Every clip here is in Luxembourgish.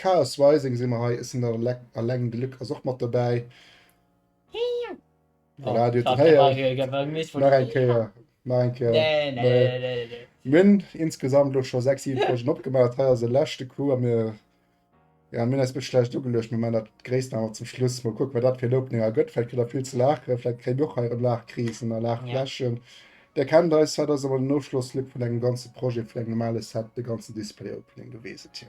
Chaos Rising si mer hei, Isn't That a Lek a Leng Glück ass och mat dobäi. Voilà, du hat héiert. Nach eng Kéier. Nach eng Kéier. Nee, nee, nee, nee, nee. Mir hunn insgesamt elo scho 6, 7 Folgen opgemaach. Hei ass e leschte Coup a mir, ja, mir hunn eis e bëssche schlecht ugeluecht. Mir maachen dat Gréissten awer zum Schluss. Mol kucken, wat dat fir en Opening ergëtt. Vläicht kritt der vill ze laachen. Vläicht kréie mir och hei erëm Laachkrisen a Laachfläschen. Där kennt eis, dat ass awer den Ofschlossclip vun engem ganze Projet, vun engem normale Set, de ganzen Display-Opening. Du weess et jo.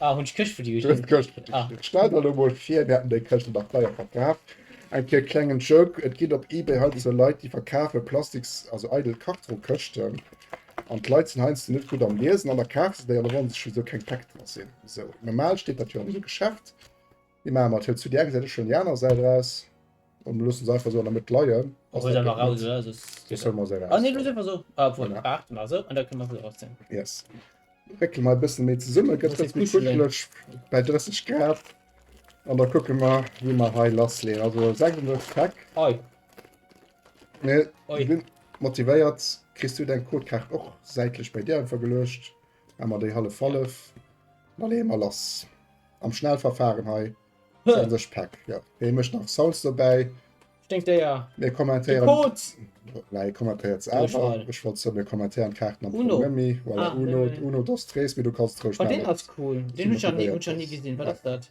Ah, hun ech Këscht fir dech gin. Stell der lo mol vir mir hätten deng Këscht nach deier verkaf. Eng Kéier klengen Joke, et gin op eBay heiansdo sou Leit déi verkafe plastiks, also eidel Kartongkëschten an d'Leit sin heiansdo net gutt am Liesen an da kafe se déi an da wonnere se sech wisou keng Päck dra sin. Sou normal steet dat jo an esou Geschäft Di maache mer d'Hëtzt zu där Säit, ech huelen déi aner Säit eraus an du loosse se einfach esou an der Mëtt leien. Ass dat gutt Mëtt? Soss huele mer se eraus. Yes. Réckele mer e bësse méi zesummen, gëtt dëst méi kuscheleg bäi 30 Grad an da kucke mer wéi mer hei lass leeën. Also e senkende Stack. Mir sinn motivéiert. Kriss du däi Codekaart och säitlech bäi dir einfach geluecht? Emmer déi hallef hallef. Da leeë mer lass am Schnellverfahren hei. Dann sech Pack. Ja. Hee mécht nach Salz dobäi. Stinkdéier. Mir kommentéieren. De Kot! Nei, kommentéiert se awer. Ech wollt soen, mir kommentéieren d'Kaarten am Fong net méi. Voilà, Uno. Uno dos tres, mee du kanns et roueg nach. Oh, deen ass cool. Deen hunn ech nach ni gesinn. Wat ass dat?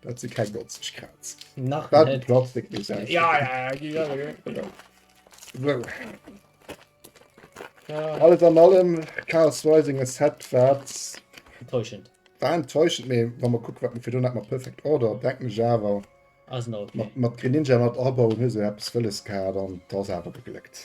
Dat si keng 90 Grad. Nach Dat net. Plastik muss Ja, ja, ja, gi ja, ja. So. ja. Alles an allem Chaos Rising e Set wat Enttäuschend. war enttäuschend, mee wann man kuckt wat mir fir dun hat mat Perfect Order, denken ech awer Ass en okay. mat, mat Greninja, mat Arbor hun se eppes wëlles gehat an t'ass awer gegléckt.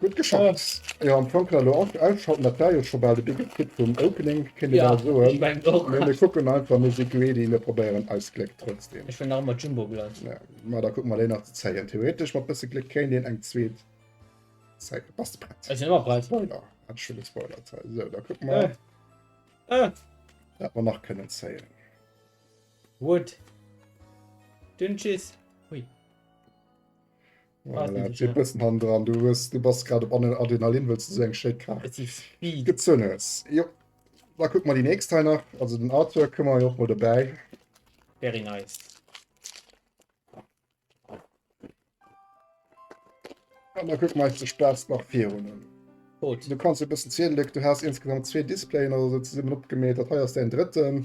Gutt geschafft. Jo am Fong kënne lo och ausschalten, dat war jo scho bal de Begriff vum Opening, kéint ee bal soen. Ech mengen och. Mee mir kucken einfach Musik ready, mir probéieren eist Gléck trotzdem. Ech well nach ëmmer Jumbo Blood. Ja, ma da kucke mer déi nach ze zéien. Theoretesch mat bësse Gléck kéint een eng zweet zéien. Bass de prett? Ech sinn ëmmer prett. Spoiler, hat ech scho gespoilert. Sou, da kucke mer, wat mer nach kënnen zéien. Wood. Dünnschiss. Hui. Voilà, bëssen han dran du hues du bass grad op aner Adrenalin wëlls du sou eng schéi Kaart gezunn hues. Jo da kuck mer déi nächst hei nach also den Arthur kënne mer jo och mol dobäi. Very nice. An da kuck mer eis de Spaass nach virun. Rot. Du kanns e bëssen zielen, Luc, du has insgesamt zwee Displayen oder sou zesummen opgemeet, dat hei ass däin drëtten.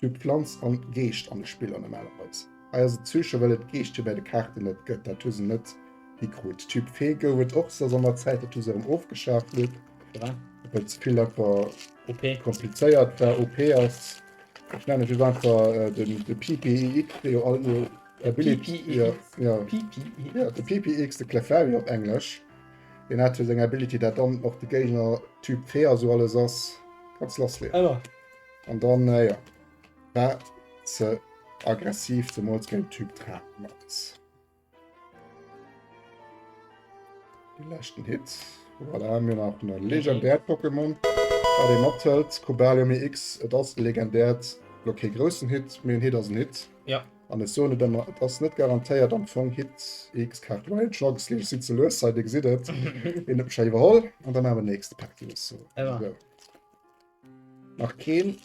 Typ Pflanz an Geescht an de Spiller normalerweis. Hei ass et Psyche well et d'Geeschtchen bäi de Kaarten net gëtt, dat hu se net hi krut. Typ Fee gouf et och, se ass an der Zäit dat hu se erëm ofgeschaf lued well ze vill einfach komplizéiert war. OP ass, ech nennen et just einfach de PPIX, dee jo alt no der Ability, jo jo de PPIX, de Clefairy op englesch, deen hat jo seng Ability dat dann och de Géigner Typ Fee ass, sou alles ass, kanns lassleeën. An dann, äh, ja, war ze aggressiv, zemools géint Typ Draken ass. Den leschten Hit. Voilà, haben wir nach ein legendärt Pokémon. Bei dem Abtelt, Cobalium EX, et ass legendärt. Lo kee großen Hit, mir Hit ass ein Hit. Ja. An es so net immer, et ass net garantéiert am Fong Hit EX Kart Wild Shocks lief sie zu los, seid ihr gesehen habt. Den hab ich schon überholt. Und dann haben wir nächste Pack, die ist so. Ja. Nach keen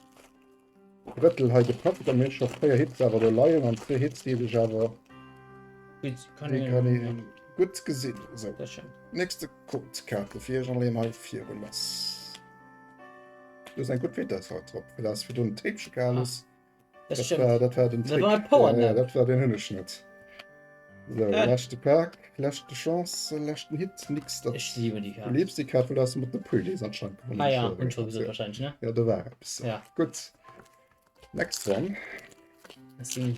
Brëttel hei gepackt, da mir hunn scho 4 Hits awer do leien an zwee Hits déi sech awer gutt gesinn. Esou, nächste Codekaarte fir iech an leen hei virun lass. Do ass eng gutt Vitess haut drop, fir dat ass virdrun Tape Shake alles. Dat war, dat war den Trick. Ja, dat war, deen hunn ech net. Sou, leschte Pak, leschte Chance, leschten Hit, nix. Ech liwen déi Kaart. Du liewst déi Kaart, well du has se mat de Pullis anscheinend gewonnen. Ah ja, hunn ech scho wahrscheinlech, ne? Ja, do war eppes. Ja. Gutt. Next one. Merci.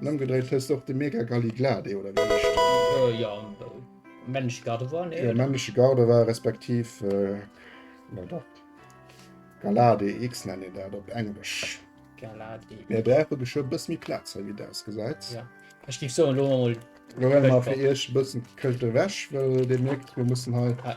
Ëmgedréit hësst och de Mega Galli Glade oder wéi heescht deen? Jo, männleche Gardevoir, nee? Jo, männleche Gardevoir respektiv Galade X nennt een dat op Englesch. Galade. Mir brauche geschwë e bësse méi Plaz hei, wéi et ausgesäit. Jo, ech géif soen, elo hu mer mol. Elo huele mer fir Iech e bëssen d'Këscht ewech, well Dir mierkt, mir mussen hei.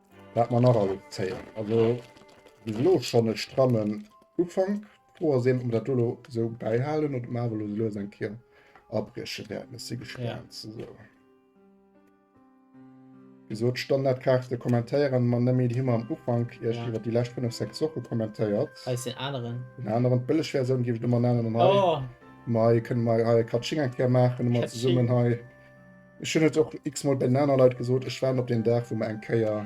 Wat mer nach alles zéien, also bis elo schonn e strammen Ufank. D'Fro ass eben, ob mer dat do elo esou bäihalen oder ob mer awer elo esou lues eng Kéier abrieche wäerten. Ech si gespaant ze soen. Wéi gesot, d'Standardkaarte kommentéiere mer net méi. Déi hu mer am Ufank iech iwwer déi lescht fënnef, sechs Woche kommentéiert. Hei ass deen aneren. Deen aneren, d'bëlleg Versioun géif ech do mer nennen. An hei kënne mer hei e Katsching eng Kéier maachen, hu mer zesummen hei. Ech hunn et och x-mol bei den anere Leit gesot, ech waarden op deen Dag, wou mer eng Kéier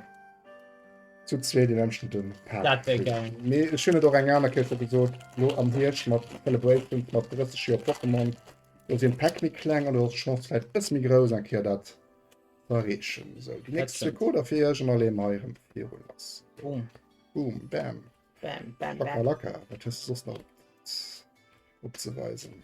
zu zweet een anstënde Park Dat wär kritt. geil. Mee ech hunn et och eng aner Kéier scho gesot, elo am Hierscht mat Celebrations, mat 30 Joer Pokémon, do sinn d'Päck méi kleng an do ass d'Chance vläicht e bësse méi grouss, eng Kéier dat z'erreechen. Sou, déi nächst zwee stimmt. Coder fir Iech an da leeë mer hei erëm virun lass. Boom. Boom, bam, Bam, bam, bam. Chakalaka. Wat hues de soss nach opzeweisen?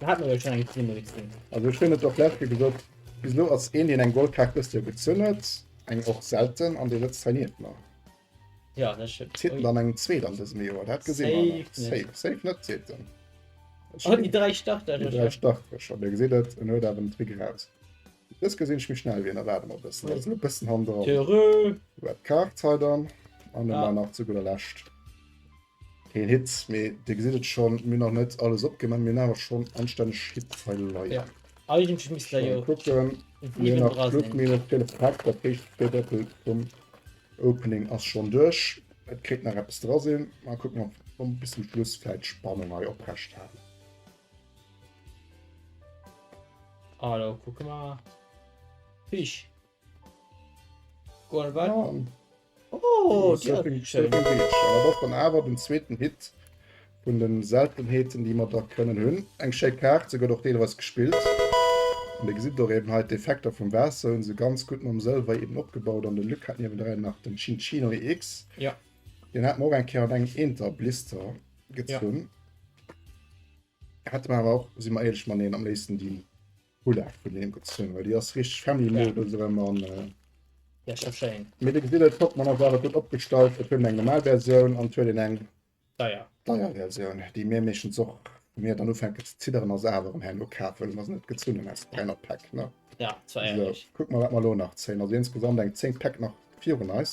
Mir haten elo schonn eng Teammedezin. Also ech hunn et och lech jo gesot, bis elo ass een deen eng Goldkaart dëst Joer gezunn huet, eng och selten, an dee sëtzt hei nieft mer. Ja, dat stimmt. Zitt en dann eng zweet an dësem Joer? Dat gesi mer nach. Safe net. Safe, safe net, seet en. Oh, déi dräi Starter Déi jo dräi scho. Starter scho. Dir gesitt et, en huet awer den Trick eraus. Dës gesinn ech méi schnell wéi en erwaart emol e bëssen. Ass elo e bëssen hanneran. Heureux! Red Kaart hei dann. An elo Ah. nach zu gudder Lescht. Keen Hit, mee dir gesitt et schonn, mir hunn nach net alles opgemaach, mir hunn awer schonn anstänneg Hit hei leien. Eigentlech misst der jo kucken, mir hunn nach Club Minett fir de Pack, dat héchst zwee Drëttel vum Opening ass schonn duerch. Et kéint nach eppes dra sinn, mä kucke mer, ob mer bis zum Schluss vläicht d'Spannung hei oprecht halen. Alo kucke mer. Fish. awer den zweeten Hit vun den Seltenheeten déi mer der kënnen hunn. Eng schéi Kaart, se gëtt och deelweis gespillt an Dir gesitt och eben hei d'Effekter vum Waasser hunn se ganz gutt mam Sëlwer eben opgebaut an de Luc hat niewendrei nach den Cincino EX, deen hat mer och eng Kéier an engem Eenter Blister gezunn, hätte mer awer och, si mer éierlech, mateneen am léifsten déi. Hullaf hun hien gezunn well déi ass richteg family models erem an ja schon schéin mee de gesitt et flott man ass awer gutt opgestallt et huet eng normal versioun an et huet een eng deier deier versioun déi mir meeschtens och wou mir dann ufänken ze zidderen ass awer erem herno kaf well mer se net gezunnen aus 300 pack ne ja dat war ärgerlech kuck mer wat mer elo nach zéien also insgesamt eng 10 pack nach virun eis.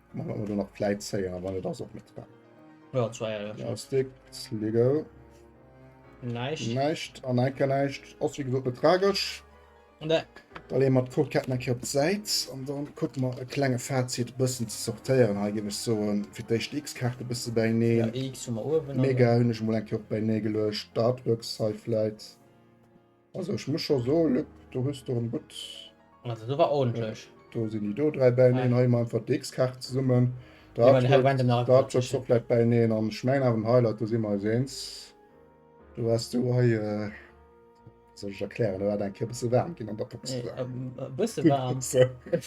Mach mal dann nach Play zéier, wann et ass op mit war. Ja, zwei Jahre. Ja, Stick, Sligo. Näischt. Näischt, an enke näischt. Ass wie gesot net tragesch. Ne. Da leeën mer d'Codeketten enke op d'Säit an dann kucke mer e klenge Fazit e bëssen ze sortéieren. Hei géif ech soen, fir d'éischt déi X-Kaarte e bësse bäineen. Ja, X hu mer uewen. Mega hunn ech mol eng Kéier och bäinee geluecht. D'Artworks hei vläit. Also ech muss scho so Lück du hues do en gutt. Also du war ordentlich. Do sinn déi do dräi bäineen hei man einfach dx Kaart zesummen komplett bäineen an schmeng awer den Highlight do si mer eis eens do wars du hei äh soll ech erklären do war eng Kéier bësse waarm ginn an der Box bësse waarm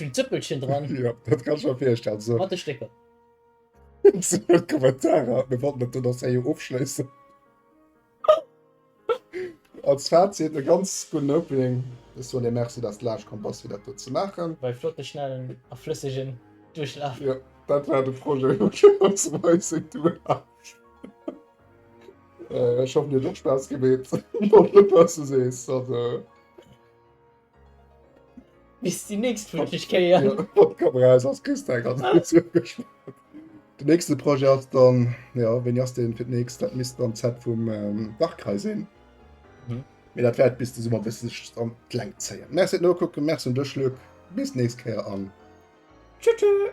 vill Zëppelchen dran jo dat kann ech mer virstellen sou mat de Stécker Kommentarer mir wollten dat do nach séier ofschléissen. Als Fazit, e ganz gudden Opening. Ech soen dir Merci, dass de laanscht komm bass, fir dat do ze maachen. War ee flotte, schnellen a flëssegen Duerchlaf. Jo, dat war de Projet, elo ginn mer zum heutigen Duerchlaf. Ech hoffen, dir huet och Spaass gemeet. Mol, op, was du sees. Bis die nächst flutschig Kéier. Ja, op komm raus, ass Christa eng ganz gutt zurückgeschwat. Den nächste Projet ass dann, ja, wéini ass den fir d'nächst? Dat misst dann d'Zeit vum ähm, Dachkreis sinn. Mhm. Mee dat wäert bis de Summer bis sech an d'Längt zéien. Merci et nokucken, merci un dech Luc. Bis nächst Kéier an Tschüss, tschüss.